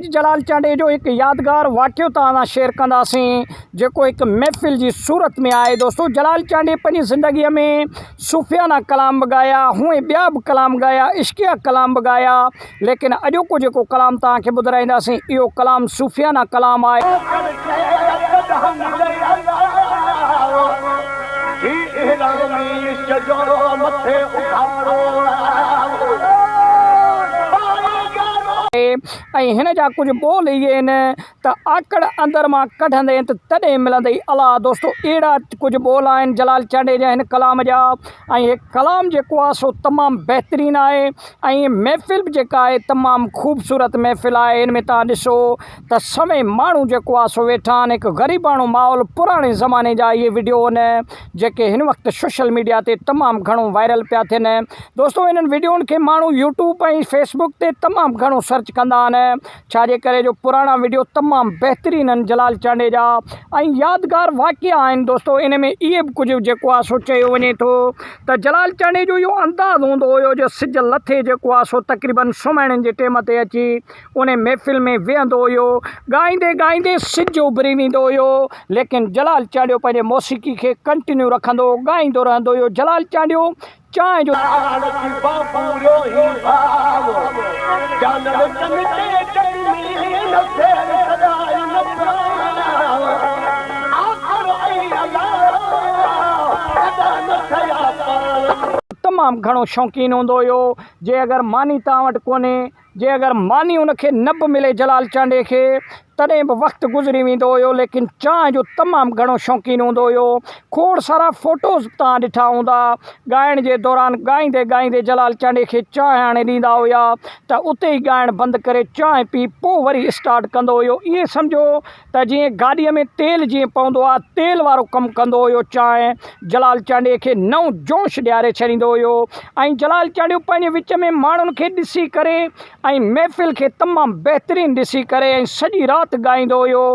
جلال چانڊئي جو هڪ يادگار واقعو توهان سان شيئر ڪنداسين جيڪو هڪ محفل جي صورت ۾ آهي دوستو جلال چانڊئي پنهنجي زندگي ۾ صوفيانه ڪلام به ڳايا هونئن ٻيا به ڪلام ڳايا عشقيه ڪلام به ڳايا ليڪن اڄوڪو جيڪو ڪلام توهان کي ٻڌرائينداسين اهو ڪلام صوفيانه ڪلام آهي. ۽ هن جا ڪجهه ٻول اهي آهن ته آڪڙ اندر مان ڪڍندين ته تڏهن ملندئي الا دوستو اهڙا ڪجهه ٻول آهن جلال چانڊيي جا هن ڪلام جا ۽ هي ڪلام جيڪو آهي سو تمام بهترين آهي ۽ محفل به جيڪا آهي تمام خوبصورت محفل آهي ان ۾ توهان ڏسو ته سوين ماڻهو جيڪو آهي سو ويٺا آهن هڪ غريباڻو ماحول پراڻي زماني جا اهي وڊيو ان جيڪي هن وقت سوشل ميڊيا تي تمام گهڻو وائرل پيا ٿين دوستو انهن وڊيون کي ماڻهو يوٽيوب ۽ فيس بڪ تي تمام گهڻو سرچ ڪندا آهن ڇا جي ڪري جو پراڻا وڊيو تمام بهترين آهن جلال چانڊي جا ۽ يادگار واقعا آهن دوستو ان ۾ اهي به ڪجهه جيڪو آهي سو چيو وڃي ٿو ته جلال چانڊي جو اهو انداز هوندو هيو جو سج لٿي جيڪو آهي سو تقريبن سمهڻ جي ٽيم تي اچي انهيء محفل ۾ ويهندو هيو. ڳائيندي ڳائيندي سج اڀري ويندو هيو، ليڪن جلال چانڊيو پنهنجي موسيقي کي ڪنٽينيو رکندو هو، ڳائيندو رهندو هيو. جلال چانڊيو چانهه جو. تمام گهڻو شوقين هوندو هيو، جي اگر ماني توهان وٽ ڪونهي. جي اگر ماني ان کي نه به ملي جلال چانڊيي کي تڏهن به وقت گذري ويندو هيو ليڪن چانهه جو تمام گهڻو شوقين هوندو هيو کوڙ سارا فوٽوز به توهان ڏٺا هوندا ڳائڻ جي دوران ڳائيندي ڳائيندي جلال چانڊيي کي چانهه آڻي ڏيندا هيا ته اتي ئي ڳائڻ بند ڪري چانهه پي پو وري اسٽارٽ ڪندو هيو ائين سمجهو ته جيئن گاڏيء ۾ تيل جيئن پوندو آ، تيل وارو ڪم ڪندو هيو. چانهه جلال چانڊيي کي نئون جوش ڏياري ڇڏيندو هيو ۽ جلال چانڊيو پنهنجي وچ ۾ ماڻهن کي ڏسي ڪري ۽ محفل کي تمام بهترين ڏسي ڪري ۽ سڄي رات ڳائيندو هيو.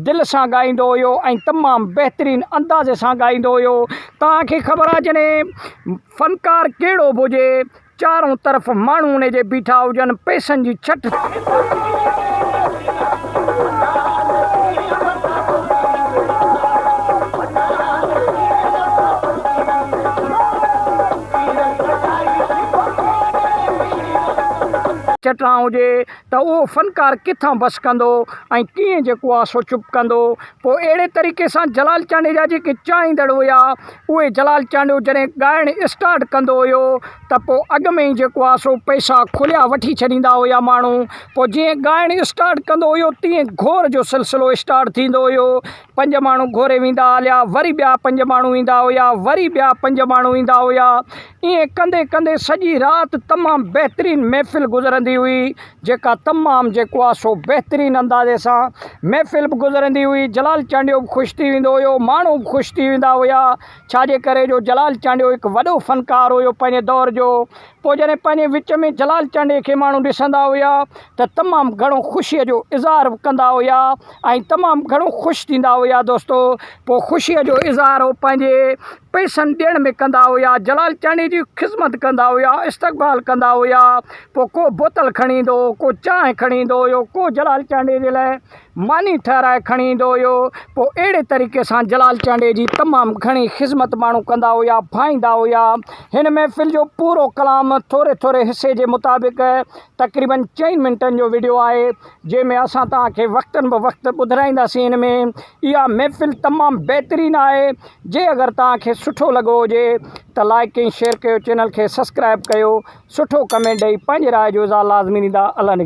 دل سان ڳائيندو هيو ۽ تمام بهترين انداز سان ڳائيندو هيو. توهان کي خبر آ جڏهن فنڪار ڪهڙو به هجي چارون طرف ماڻهو ان جي بيٺا هجن، پئسن جي ڇٽ ڇٽران هجي ته اهو فنڪار ڪٿان بس ڪندو ۽ ڪيئن جيڪو آسو چپ ڪندو؟ پوء اهڙي طريقي سان جلال چانڊيجا جيڪي چاهيندڙ هيا اهي جلال چانڊيو جڏهن ڳائڻ اسٽارٽ ڪندو هيو ته پوء اڳ ۾ ئي جيڪو آهي سو پئسا کليا وٺي ڇڏيندا هيا ماڻهو پوء جيئن ڳائڻ اسٽارٽ ڪندو هيو تيئن گهور جو سلسلو اسٽارٽ ٿيندو هيو پنج ماڻهو گهوري ويندا هليا وري ٻيا پنج ماڻهو ايندا هيا وري ٻيا پنج ماڻهو ايندا هيا ائين ڪندي ڪندي سڄي رات تمام بهترين محفل گذرندي هئي جيڪا تمام جيڪو آهي سو بهترين اندازي سان محفل به گذرندي هئي جلال چانڊيو به خوش ٿي ويندو هيو ماڻهو به خوش ٿي ويندا هيا ڇاجي ڪري جو جلال چانڊيو هڪ وڏو فنڪار هيو پنهنجي دور جو پوء جڏهن پنهنجي وچ ۾ جلال چانڊيي کي ماڻهو ڏسندا هيا ته تمام گهڻو خوشي جو اظهار به ڪندا هيا ۽ تمام گهڻو خوش ٿيندا هيا دوستو پوء خوشي جو اظهار هو پنهنجي پئسن ڏيڻ ۾ ڪندا هيا جلال چانهه جي خذمت ڪندا هيا استقبال ڪندا هيا پوء ڪو بوتل کڻي ايندو هو ڪو چانهه کڻي ايندو هيو ڪو جلال چانهه جي لاء ماني ٺهرائي کڻي ايندو هيو پوء اهڙي طريقي سان جلال چانهه جي تمام گهڻي خذمت ماڻهو ڪندا هيا ڀائيندا هيا هن محفل جو پورو ڪلام ٿوري ٿوري حصي جي مطابق تقريبا چئن منٽن جو وڊيو آهي جنهن ۾ اسان توهان کي وقتن بوقت ٻڌرائينداسين هن ۾ اها محفل تمام بهترين آهي جي اگر توهان کي سٺو لڳو هجي ته لائيڪ ۽ شيئر ڪيو چينل کي سسڪرائب ڪيو سٺو ڪمينٽ ڏئي پنهنجي راء جو اظهار لازمي ڏيندا الله نگهان.